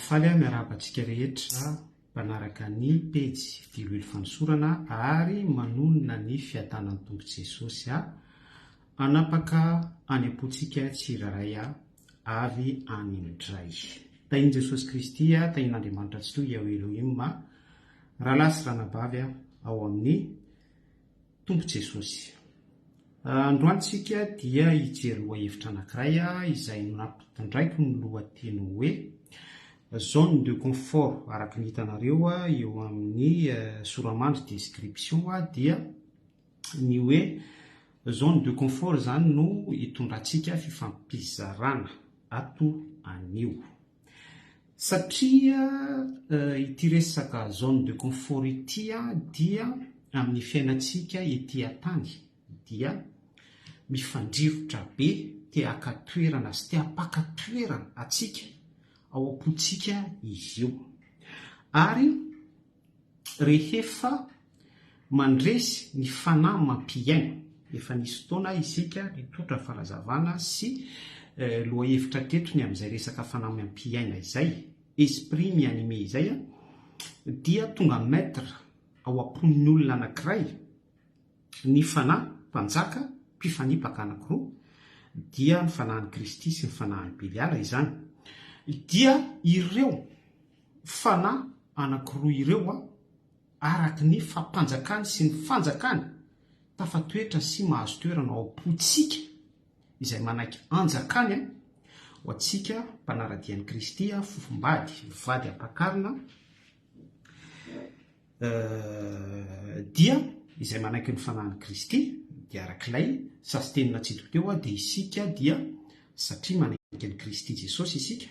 Faly aho miarahaba antsika rehetra mpanaraka ny pejy Diloilo Fanosorana ary manonona ny fiadanan'ny Tompo Jesosy hanapaka any am-pontsika tsirairay avy any indray. Tahian'i Jesosy Kristy, tahian'Andriamanitra Tsitoha Yahweh Elohim, rahalahy sy ranabavy ao amin'ny Tompo Jesosy. Androany tsika dia hijery lohahevitra anakiray izay nampitondraiko ny lohateny hoe Zone de confort araka ny hitanareo eo amin'ny soramandry description dia ny hoe zone de confort izany no hitondrantsika fifampizarana ato anio. Satria ity resaka zone de confort ity dia amin'ny fiainantsika ety an-tany dia mifandrirotra be te haka toerana sy te hampaka toerana antsika ao am-pontsika izy io ary Rehefa mandresy ny fanahy mampiaina. Efa nisy fotoana isika nipoitra fanazavana sy lohahevitra teto ny amin'izay resaka fanahy mampiaina izay, esprit mi-animé izay, dia tonga maître ao am-pon'ny olona anankiray ny fanahy mpanjaka mpifanipaka anankiroa, dia ny fanahin'i Kristy sy ny fanahin'i Beliala izany. Dia ireo. Fanahy anankiroa ireo araky ny fampanjakany sy ny fanjakany tafatoetra sy mahazo toerana ao am-pontsika izay manaiky anjakany ho antsika mpanara-dia an'i Kristy, fofombady, vady ampakarina, Dia izay manaiky ny Fanahin'i Kristy, dia arak'ilay sasiteny natsindriko teo aho, dia isika dia, satria manaiky an'i Kristy Jesosy isika,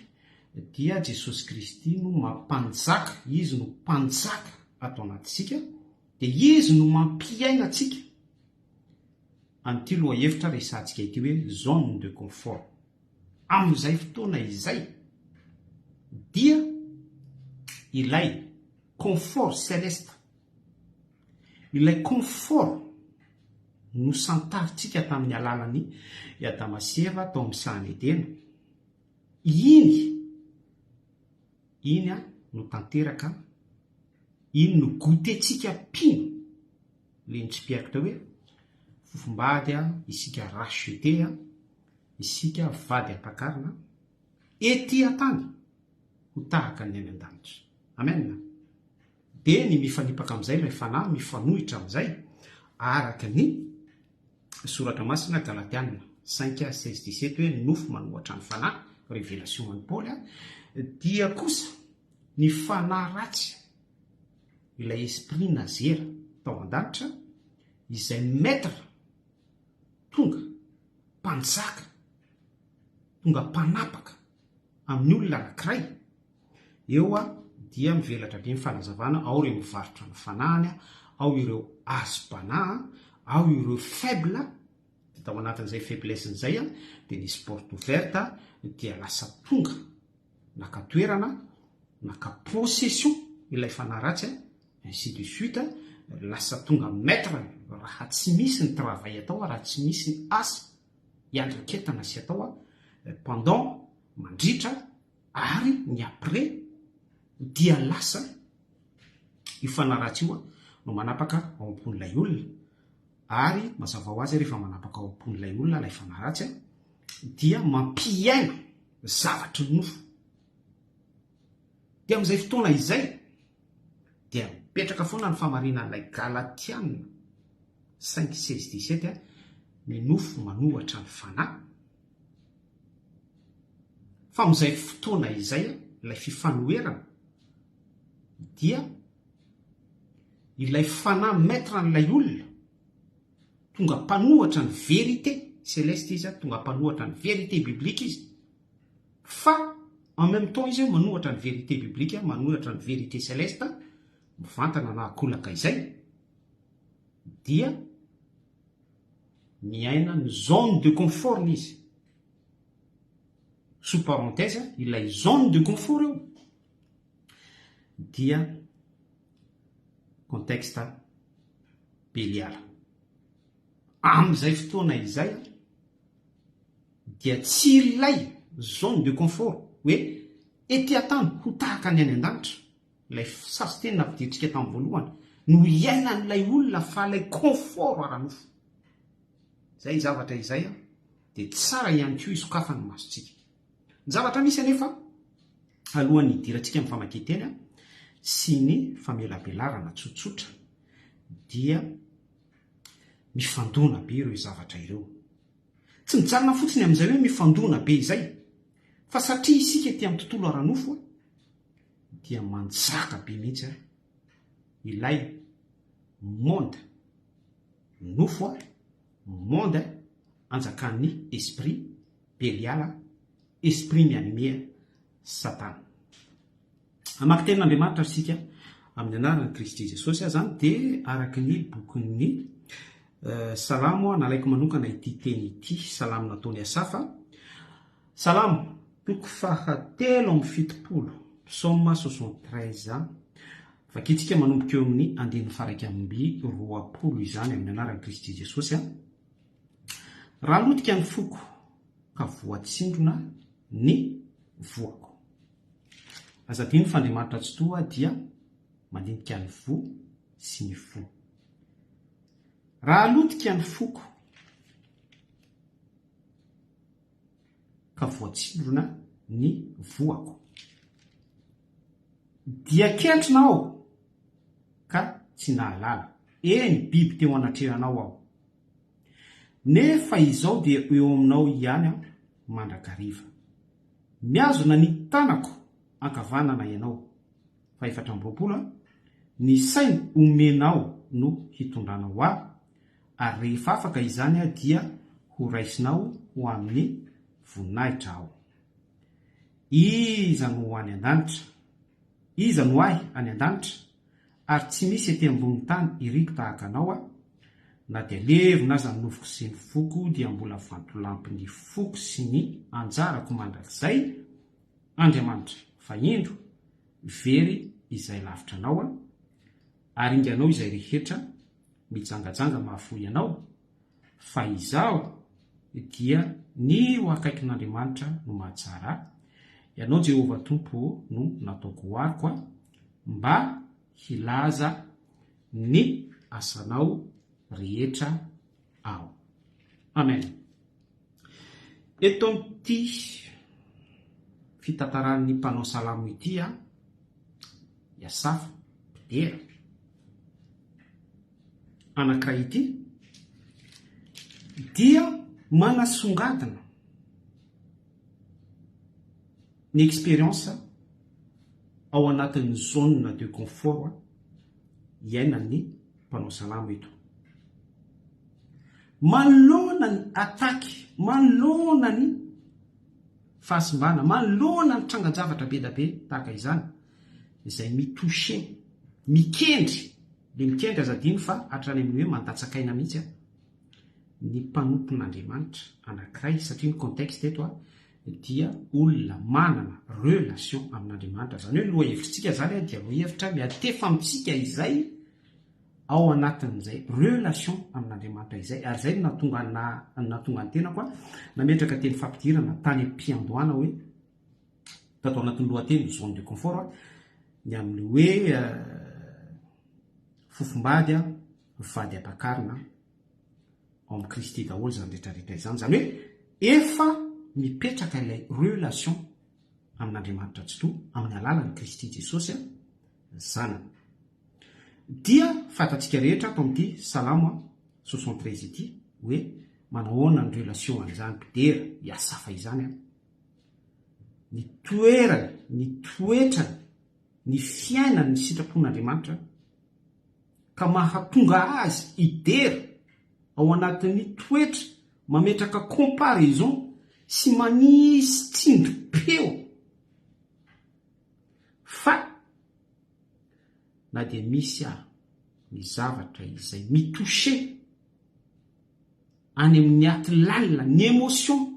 dia Jesosy Kristy no mampanjaka, Izy no Mpanjaka ato anatintsika, dia Izy no mampiaina antsika. An'ity lohahevitra resahantsika ity hoe zone de confort. Amin'izay fotoana izay, dia ilay Confort Céleste. Ilay Confort no santarintsika tamin'ny alalan'i Adama sy Eva tao amin'ny sahan'i Edena. Iny, iny no tanteraka, iny no goûter-tsika mpino, ilay nitsipiakitra hoe, fofombady isika racheter, isika vady ampakarina, ety an-tany ho tahaka ny any an-danitra. Amen! Dia ny mifanipaka amin'izay ilay fanahy, mifanohitra amin'izay, araka ny Soratra Masina, Galatiana cinq, seize, dix sept, hoe ny nofo manohatra ny fanahy, révélation an'i Paoly, dia kosa ny fanahy ratsy, ilay esprit nazera tao an-danitra, izay maître, tonga mpanjaka, tonga mpanapaka amin'ny olona anankiray, Eo dia mivelatra be ny fanazavana, ao ireo mivarotra ny fanahiny, ao ireo azo banaha, ao ireo faible, dia tao anatin'izay faiblesse-ny izay dia nisy porte ouverte dia lasa tonga naka toerana, naka possession ilay fanahy ratsy, ainsi de suite, lasa tonga maître raha tsy misy ny travail atao, raha tsy misy ny asa iandraketana sy atao pendant, mandritra, Ary ny après dia lasa io fanaratsy io no manapaka ao am-pon'ilay olona. Ary mazava ho azy ary efa manapaka ao am-pon'ilay olona ilay fanaratsy dia mampiaina zavatry ny nofo. Dia amin'izay fotoana izay dia mipetraka foana ny fahamarinan'ilay Galatiana cinq, seize, dix-sept, ny nofo manohatra ny fanahy. Fa amin'izay fotoana izay ilay fifanoherana dia ilay Fanahy Maître an'ilay olona tonga mpanohatra ny vérité céleste izy, tonga mpanohatra ny vérité biblique izy fa en même temps izy manohatra ny vérité biblique, manohatra ny vérité céleste mivantana na akolaka izay dia Miaina ny zone de confort-ny izy. Sous parenthèse, ilay zone de confort io dia contexte Beliala. Amin'izay fotoana izay dia tsy ilay zone de confort hoe ety an-tany ho tahaka ny any an-danitra Ilay sazy teny navidiantsika tamin'ny voalohany no iainan'ilay olona fa ilay confort ara-nofo. Izay zavatra izay dia tsara ihany koa hisokafan'ny masontsika. Ny zavatra misy anefa, alohan'ny hidirantsika amin'ny famakian-teny sy ny famelabelarana tsotsotra dia mifandona be ireo zavatra ireo. Tsy mijanona fotsiny amin'izay hoe mifandona be izay fa satria isika ety amin'ny tontolo ara-nofo, dia manjaka be mihitsy ary ilay monde nofo a, monde anjakan'ny esprit belial a, esprit mianime a, satana. Hamaky tenin'Andriamanitra isika amin'ny anaran'i Kristy Jesosy a, izany dia araka ny bokin'ny Salamo, nalaiko manokana ity teny ity, salamo nataon'i Asafa. Salamo, toko faha telo amby fitopolo, psaume soixante treize, Vakintsika manomboka eo amin'ny andininy faha iraika amby roapolo izany amin'ny anaran'i Kristy Jesosy, Raha lotika ny foko ka voatsindrona ny voako. Aza adino fa Andriamanitra Tsitoha dia mandinika ny voa sy ny fo. Raha lotika ny foko. ka voatsindrona ny voako. Dia kentrina aho ka tsy nahalala, eny, biby teo anatrehanao aho. Nefa izao dia eo aminao ihany aho mandrakariva. Mihazona ny tanako ankavanana ianao, fahefatra amby roapolo, ny saina omenao no hitondranao ahy, Ary rehefa afaka izany aho dia ho raisinao ho amin'ny voninahitra aho. Iza no ho any an-danitra? Iza no ahy any an-danitra? Ary tsy misy ety ambonin'ny tany iriko tahaka anao aho, na dia levona aza ny nofoko sy ny foko dia mbola vantolampin'ny foko sy ny anjarako mandrakizay, Andriamanitra, fa indro, very izay lavitra anao aho, ary inganao izay rehetra Mijangajanga mahafoy anao, fa izaho dia ny ho akaikin'Andriamanitra no mahatsara ahy. Ianao Jehovah Tompo ô no nataoko ho aroko aho, mba hilaza ny asanao rehetra aho. Amen. Eto amin'ity fitantaran'ny mpanao salamo ity aho, i Asafa, mpidera anankiray ity, dia manasongadina ny expérience ao anatin'ny zone de confort iainan'ny mpanao salamo eto. Manoloana ny attaque, manoloana ny fahasimbana, manoloana ny trangan-javatra be da be tahaka izany, izay mi-toucher, mikendry, le mikendry aza adino fa hatrany amin'ny hoe mandatsak'aina mihitsy an, ny mpanompon'Andriamanitra anankiray, satria ny contexte eto an, dia olona manana relation amin'Andriamanitra, izany hoe ny lohahevitrintsika izany dia lohahevitra miantefa amintsika izay, ao anatin'izay relation amin'Andriamanitra izay, ary izay no nahatonga ahy na nahatonga ny tenako a nametraka teny fampidirana tany am-piandohana hoe tato anatin'ny lohateny zone de confort a ny amin'ny hoe fofombady a vady ampakarina ao amin'ny Kristy daholo izany rehetrarehetra izany, izany hoe efa mipetraka ilay relation amin'Andriamanitra Tsitoha amin'ny alalan'i Kristy Jesosy a zanany. Dia fantatsika rehetra ato amin'ity Salamo soixante treize ity hoe manahoana ny relation an'izany mpidera i Asafa izany an! ny toerany, ny toetrany, ny fiainany ny sitrapon'Andriamanitra an! ka mahatonga azy hidera ao anatin'ny toetra mametraka comparaison sy manisy tsindrim-peo fa na dia misy aza ny zavatra izay mi-toucher any amin'ny aty lalina, ny emotions,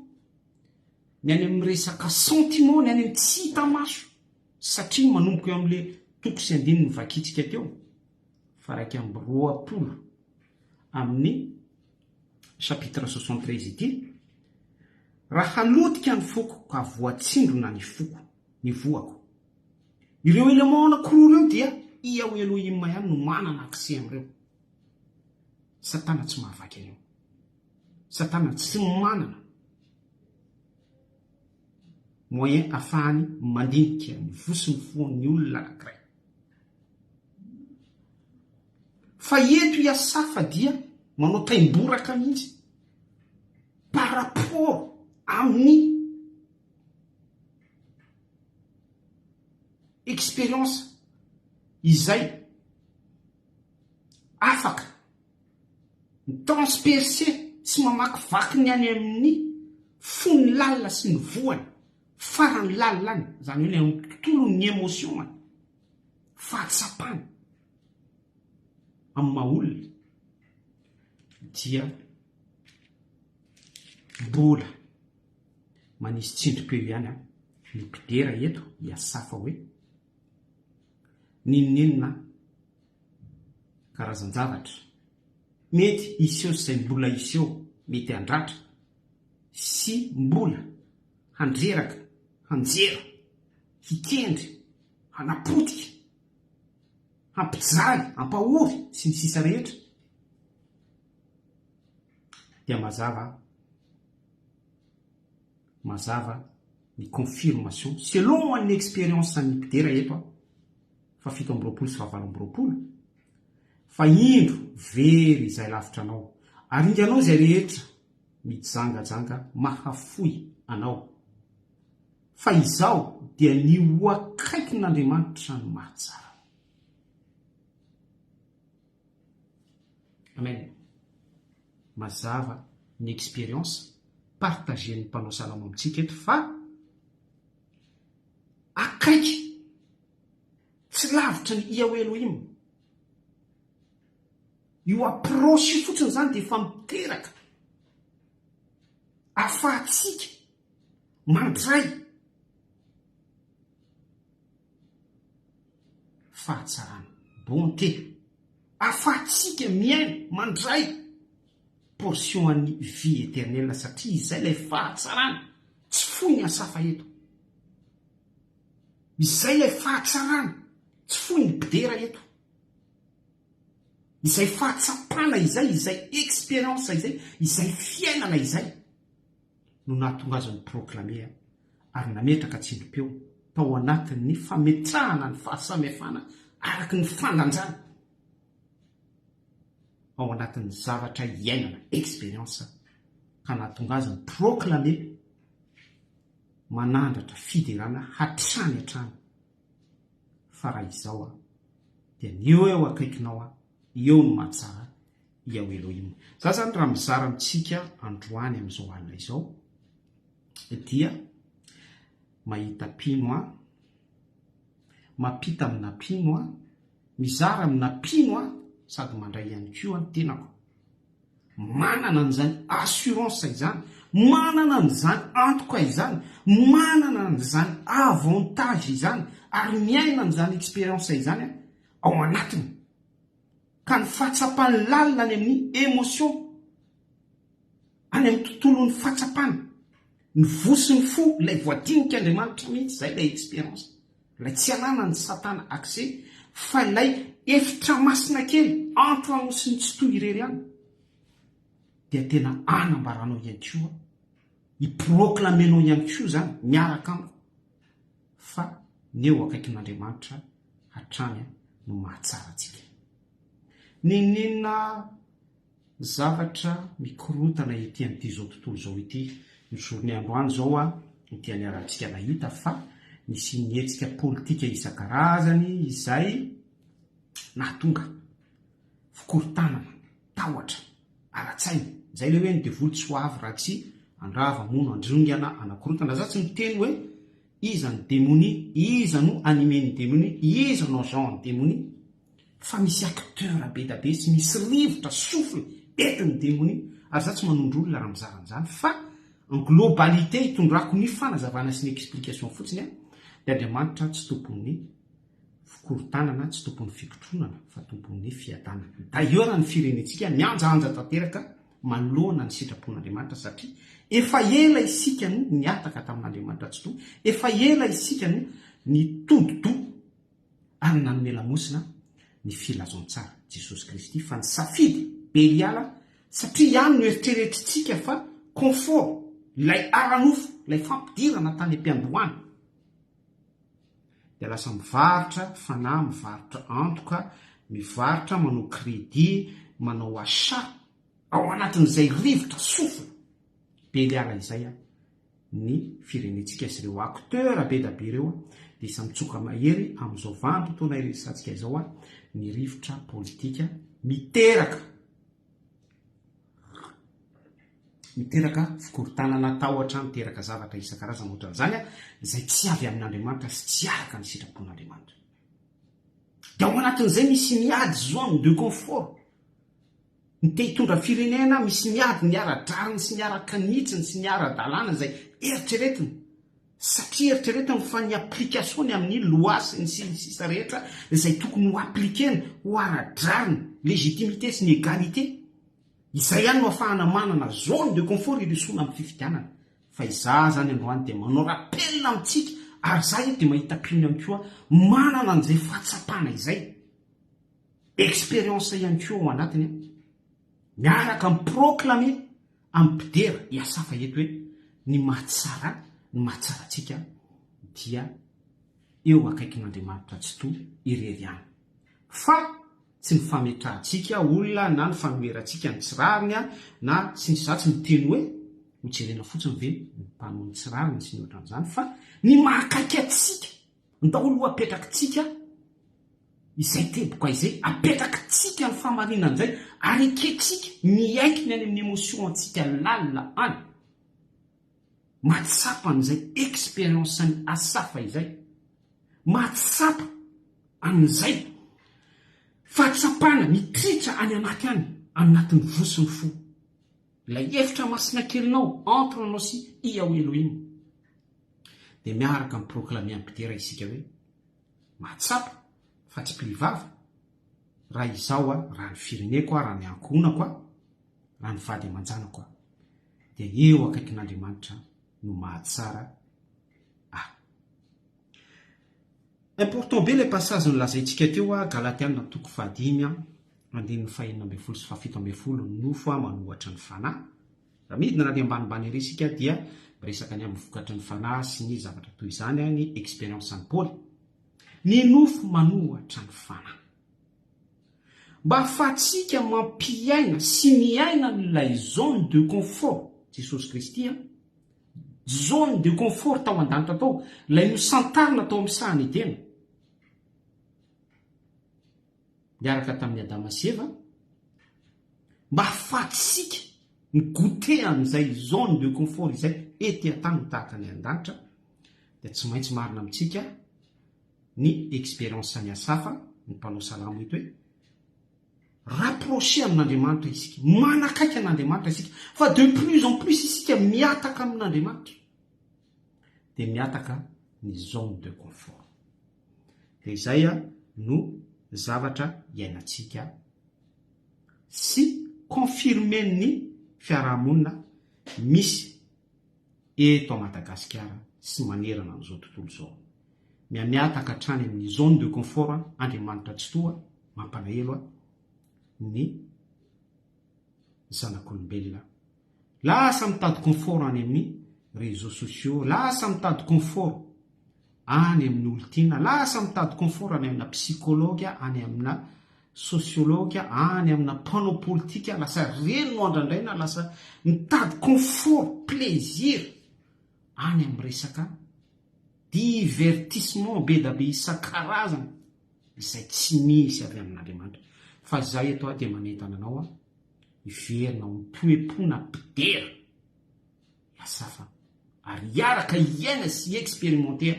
ny any amin'ny resaka sentiment, ny any amin'ny tsy hita maso, satria manomboka eo amin'ilay toko sy andininy vakitsika teo fa iraika amby roapolo amin'ny chapitre soixante treize ity, raha halotika ny foko ka voatsindrona ny foko, ny voako. Ireo éléments anankiroa ireo dia Iaho Elohim ihany no manana accès amin'ireo. Satana tsy mahavaky an'io. Satana tsy manana moyen afahany mandinika ny fo sy ny fon'ny olona anankiray. Fa eto i Asafa dia manao taimboraka mihitsy par rapport amin'ny experience izay afaka ny transpercer tsy mamakivaky ny any amin'ny fony lalina sy ny voany farany lalina any izany hoe ilay tontolony ny emotion any fahatsapany amin'ny maha olona dia mbola Manisy tsindrim-peo ihany an ny mpidera eto iasafa hoe ninoninona an karazan-javatra mety hiseho sy zay mbola hiseho mety handratra sy mbola handreraka hanjera hikendry hanapotika hampijaly hampahory sy ny sisa rehetra dia mazava Mazava ny confirmation selon ny experience an'ny mpidera eto an, fa fito amby roapolo sy fa valo amby roapolo, fa indro very izay lavitra anao, ary inganao izay rehetra mijangajanga mahafoy anao, fa izaho dia ny ho akaikin'Andriamanitra no mahatsara. Amen! Mazava ny experience partagen'ny mpanao salamo amintsika eto fa akaiky tsy lavitra ny Yahweh Elohim. Io approche io fotsiny zany dia efa miteraka afahatsika mandray fahatsarana, bonté, ahafahantsika miaina mandray portion an'ny vie éternelle satria izay ilay fahatsarana tsy foy ny asafa eto, izay ilay fahatsarana tsy foy ny mpidera eto, izay fahatsapana izay, izay expérience izay, izay fiainana izay no nahatonga azy ni-proclamer ary nametraka tsindrim-peo tao anatin'ny fametrahana ny fahasamihafana araka ny fandanjana ao anatin'ny zavatra iainana, expérience, ka nahatonga azy ni-proclamer manandratra fiderana hatrany hatrany fa raha izao aho dia ny eo eo akaikinao aho, eo no mahatsara i ao Elohim. Za zany raha mizara amintsika androany amin'izao alina izao, dia mahita mpino aho, mampita amina mpino aho, mizara amina mpino aho sady mandray ihany koa ny tenako. Manana an'izany assurance izany, manana an'izany antoka izany, manana an'izany avantage izany ary miaina an'izany expérience izany aho ao anatiny. Ka ny fahatsapany lalina any amin'ny émotion Any amin'ny tontolon'ny fahatsapana, ny voa sy ny fo, ilay voadinik' Andriamanitra mihitsy, izay ilay expérience, ilay tsy ananan'i Satana accès, fa ilay efitra masina kely entre anao sy ny tsitoha irery ihany, dia tena anambaranao ihany koa, iproclamenao ihany koa izany miaraka amiko fa ny eo akaikin' Andriamanitra hatrany no mahatsara antsika. N'inon'inona. Zavatra mikorontana ety amin'ity izao tontolo izao ity. Ny zorony androany izao dia niarahantsika nahita fa nisian'ny hetsika politika isan-karazany izay nahatonga fikorontanana, tahotra, ara-tsaina. Izay ilay hoe ny devoly tsy ho avy raha tsy handrava, hamono, handringana, hanakorontana. Za tsy miteny hoe iza ny demonia, iza no anime ny demonia, iza no agent ny demonia. fa misy acteurs be da be sy misy rivotra souffle eto ny demonia ary za tsy manondro olona raha mizara an'izany fa en globalité itondrako ny fanazavana sy ny explication fotsiny an dia Andriamanitra tsy tompon'ny fikorontanana tsy tompon'ny fikotronana fa tompon'ny fiadanana d'ailleurs ny firenentsika mihanjahanja tanteraka manoloana ny sitrapon'Andriamanitra satria efa ela isika no nihataka tamin'Andriamanitra tsy toa efa ela isika no nitodi-doha ary nanome lamosina ny filazantsara Jesosy Kristy fa ny safidy Beliala satria ihany no eritreretintsika fa confort ilay ara-nofo ilay fampidirana tany am-piandohana dia lasa mivarotra fanahy mivarotra antoka mivarotra manao crédit manao achat ao anatin'izay rivotra sofina Beliala izay an ny firenentsika sy ireo acteurs be da be ireo dia samy tsoka mahery amin'izao vanim-potoana iresatsika izao ny rivotra politika miteraka miteraka fikorontanana tahotra miteraka zavatra isan-karazany ohatran'izany izay tsy avy amin'Andriamanitra sy tsy araka ny sitrapon'Andriamanitra dia ao anatin'izay misy miady zone de confort Ny te hitondra firenena misy ny ady, ny ara-drariny sy ny ara-kanitsiny sy ny ara-dalàna izay eritreretiny, satria eritreretiny fa ny application-ny amin'ny loi sy ny sy ny sisa rehetra izay tokony ho appliquer-ny ho ara-drariny, légitimité sy ny égalité. Izay ihany no afahana manana zone de confort hirosoana amin'ny fifidianana. Fa izaho izany androany dia manao rappel amintsika ary izaho eto dia mahita mpihaino ihany koa manana an'izay fahatsapana izay. Expérience ihany koa ao anatiny an! Miaraka mi proclamer am mpidera iasafa eto hoe ny mahatsara ny mahatsara antsika dia eo akaikin'Andriamanitra Tsitoha irery ihany fa tsy ny fametrahantsika olona na ny fanoherantsika ny tsy rariny an na sy ny sisa tsy miteny hoe hojerena fotsiny ve ny mpanao ny tsy rariny sy ny ohatran'izany fa ny maha akaiky antsika Ndao aloha apetrakitsika izay teboka izay, apetrakitsika ny fahamarinana izay ary eketsika miaiky ny any amin'ny emotion-tsika lalina any, mahatsapa an'izay experience-n'ny asafa izay, mahatsapa an'izay fahatsapana mitritra any anaty any, anatin'ny voson'ny fo. Ilay efitra masina kelinao entre anao sy Iao Elohim. Dia miaraka mi-proclamer ampidera isika hoe, Mahatsapa fa tsy mpilivava, raha izaho aho, raha ny fireneko aho, raha ny ankohonako aho, raha ny vady aman-janako aho. Dia eo akaikin'Andriamanitra aho no mahatsara ahy. Important be ilay passage nolazaintsika teo hoa Galatiana toko fahadimy an, andininy fahenina ambin'ny folo sy fahafito ambin'ny folo ny nofo hoa manohatra ny fanahy. Raha midina ary ambanimbany ery isika dia miresaka ny amin'ny vokatry ny fanahy sy ny zavatra toy izany ny expérience an'i Paoly. Ny nofo manohatra ny fanahy. Mba ahafahantsika mampiaina sy miaina an'ilay zone de confort Jesosy Kristy an, Zone de confort tao an-danitra tao, ilay nosantarina tao amin'ny sahan'i Edena, niaraka tamin'i Adama sy Eva, mba hahafahantsika mi-goûter an'izay zone de confort izay ety an-tany ho tahaka ny any an-danitra, dia tsy maintsy marina amintsika ny expérience-n'i Asafa, ny mpanao salamo eto hoe, Rapprocher amin'Andriamanitra isika, manakaiky an'Andriamanitra isika, fa de plus en plus isika mihataka amin'Andriamanitra dia mihataka ny zone de confort. Dia izay a no zavatra iainantsika sy confirmen'ny fiarahamonina misy eto Madagasikara sy manerana an'izao tontolo izao. Mihamiataka hatrany amin'ny zone de confort an, Andriamanitra Tsitoha mampalahelo an, ny zanak'olombelona. Lasa mitady confort any amin'ny réseaux sociaux, lasa mitady confort any amin'ny olon-tiana, lasa mitady confort any amina psychologue, any amina sosiologue any amina mpanao politika lasa reny no andrandraina lasa mitady confort plaisir any amin'ny resaka divertissement bedabe isan-karazany izay tsy misy avy amin'Andriamanitra fa izaho eto aho dia manentana anao aho hiverina ao amin'ny toe-pona mpidera lasa fa ary hiaraka hiaina sy expérimenter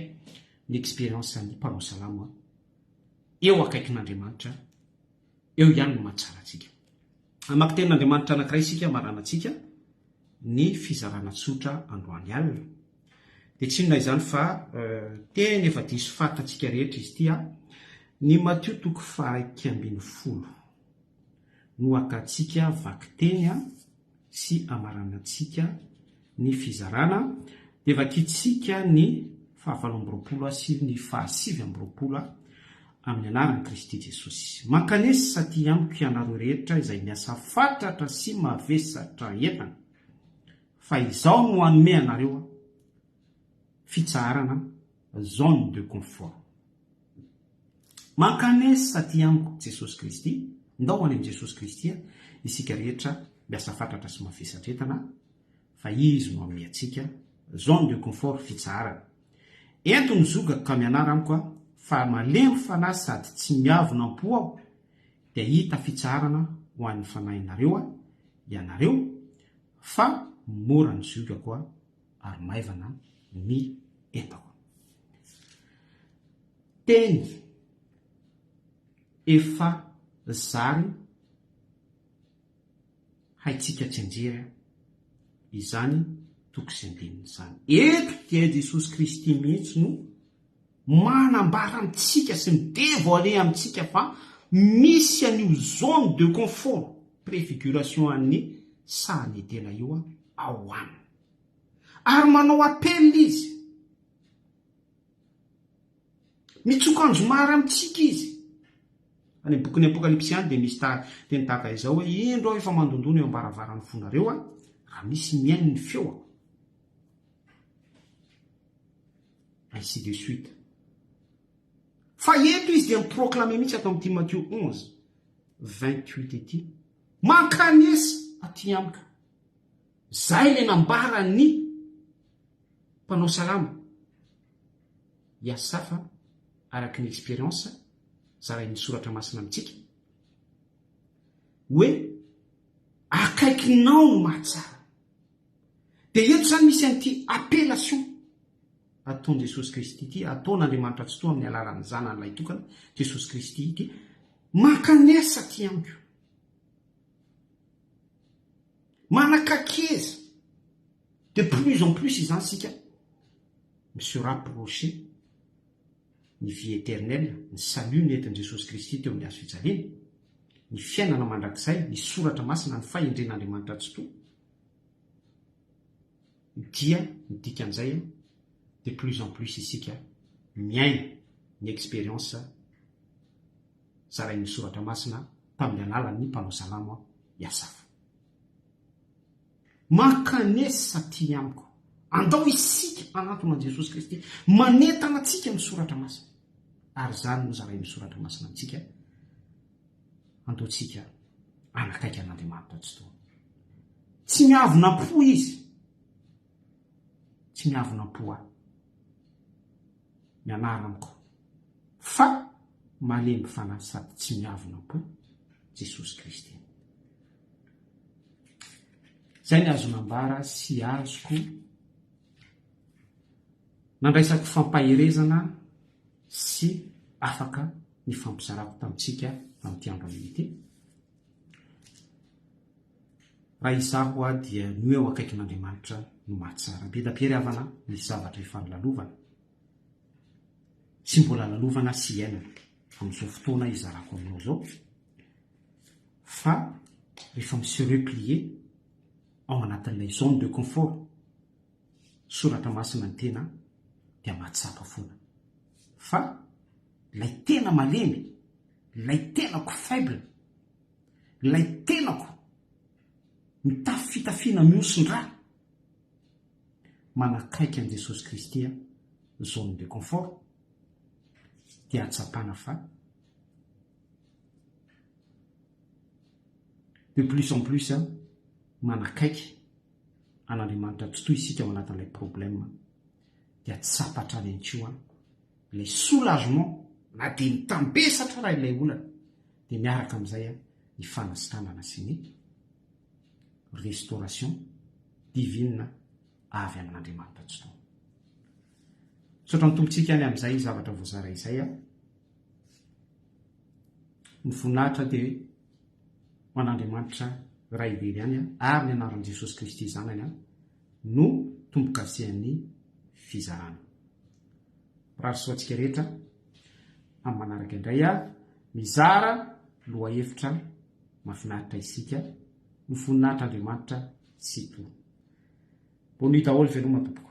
ny expérience an'ny mpanao salamo aho Eo akaikin'Andriamanitra eo ihany no mahatsara antsika. Hamaky tenin'Andriamanitra anankiray isika maranan-tsika, ny fizarana tsotra androany alina. Dia tsy inona izany fa teny efa diso fantatsika rehetra izy ity. Ny Matio toko faha iraika ambin'ny folo no akantsika vakiteny. sy amaranantsika ny fizarana dia vakintsika ny fahavalo amby roapolo sy ny fahasivy amby roapolo amin'ny anaran'i Kristy Jesosy. Mankanesa aty amiko ianareo rehetra izay miasa fatratra sy mavesatra entana fa izao no hanome anareo aho fitsaharana Zone de confort. Mankanesa aty amiko Jesosy Kristy, ndao any am Jesosy Kristy a, isika rehetra miasa fatratra sy mafesadretana fa Izy no ame antsika Zone de confort fitsaharana. Ento ny zogako ka mianara amiko a, fa malemy fanahy sady tsy miavona ampo aho dia hita fitsaharana ho an'ny fanahinareo a, ianareo, fa mora ny ziogako a, ary maivana ny entako. Teny efa zary haitsika tsinjery izany toko sy andininy izany. Eto dia Jesosy Kristy mihitsy no manambara amintsika sy midévoiler amintsika fa misy an'io zone de confort préfiguration an'ny sahan'ny tena io ao aminy. Ary manao appel izy. Mitsoka anjomara amintsika izy. Any amin'ny bokin'ny Apokalypsy ihany dia misy teny tahaka izao hoe, Indro aho efa mandondona eo am-baravaran'ny fonareo, raha misy mihaino ny feoko. Ainsi de suite. Fa eto izy dia mi-proclamer mihitsy ato amin'ity Matio 11, 28 ity. Mankanesa aty amiko. Zay le nambara ny mpanao salamo iassaf a, araky ny experience zarain'ny soratra masina amintsika hoe akaikinao no mahatsara de eto zany misy an'ity appellation ataon'i Jesosy Kristy ity ataon'Andriamanitra Tsitoha amin'ny alalan'ny zanany lahitokana Jesosy Kristy ity mankanesa ty amiko Manakakeza! De plus en plus izany sika mi se rapprocher ny vie éternelle, ny salut nentin'i Jesosy Kristy teo amin'ny hazo fijaliana, ny fiainana mandrakizay, ny soratra masina, ny fahendren'Andriamanitra Tsitoha, dia ny dikan'izay an, de plus en plus isika miaina ny expérience zarain'ny soratra masina tamin'ny alalan'ny mpanao salamo Yasafo. Mankanesa ty amiko. Andao isika hanantona an'i Jesosy Kristy manentana antsika ny Soratra Masina. Ary izany no zarain'ny Soratra Masina amintsika, Antontsika hanakaiky an'Andriamanitra tsitoha. Tsy miavona am-po Izy. Tsy miavona am-po aho. ny anarany koa fa malemy fanahy sady tsy miavona koa Jesosy Kristy. Izay ny azon' ambara sy azoko nandraisako fampaherezana sy afaka ny fampizarako tamintsika tamin'ity andro amin'ity. Raha izaho hoa dia ny ho eo akaikin'Andriamanitra no mahatsara. Be da be ry havana ny zavatra efa nolalovana sy mbola lalovana sy iainana amin'izao fotoana hizarako aminao izao fa rehefa mi-se replier ao anatin'ilay zone de confort soratra masina ny tena dia mahatsapa foana fa ilay tena malemy, ilay tenako faible Ilay tenako mitafy fitafiana mihosin-drà. Manakaiky an'i Jesosy Kristy aho, zone de confort, dia ahatsapana fa de plus en plus manakaiky an'Andriamanitra. Tsy toy isika ao anatin'ilay problème dia tsapa hatrany ihany koa. le soulagement na dia nitambesatra ara ilay olana dia miaraka amin'izay an ny fanasitranana sy ny restauration divine avy amin'Andriamanitra tsy taona. Misaotra ny Tompontsika any amin'izay zavatra voazara izay an. Ny voninahitra dia ho an'Andriamanitra Ray be ihany an ary ny anaran'i Jesosy Kristy Zanany an no tombo-kasihan'ny fizarana. Mirary soa antsika rehetra amin'ny manaraka indray a! Mizara lohahevitra mafinaritra isika ho voninahitra Andriamanitra Tsitoha. Bonne nuit daholo veloma tompoko.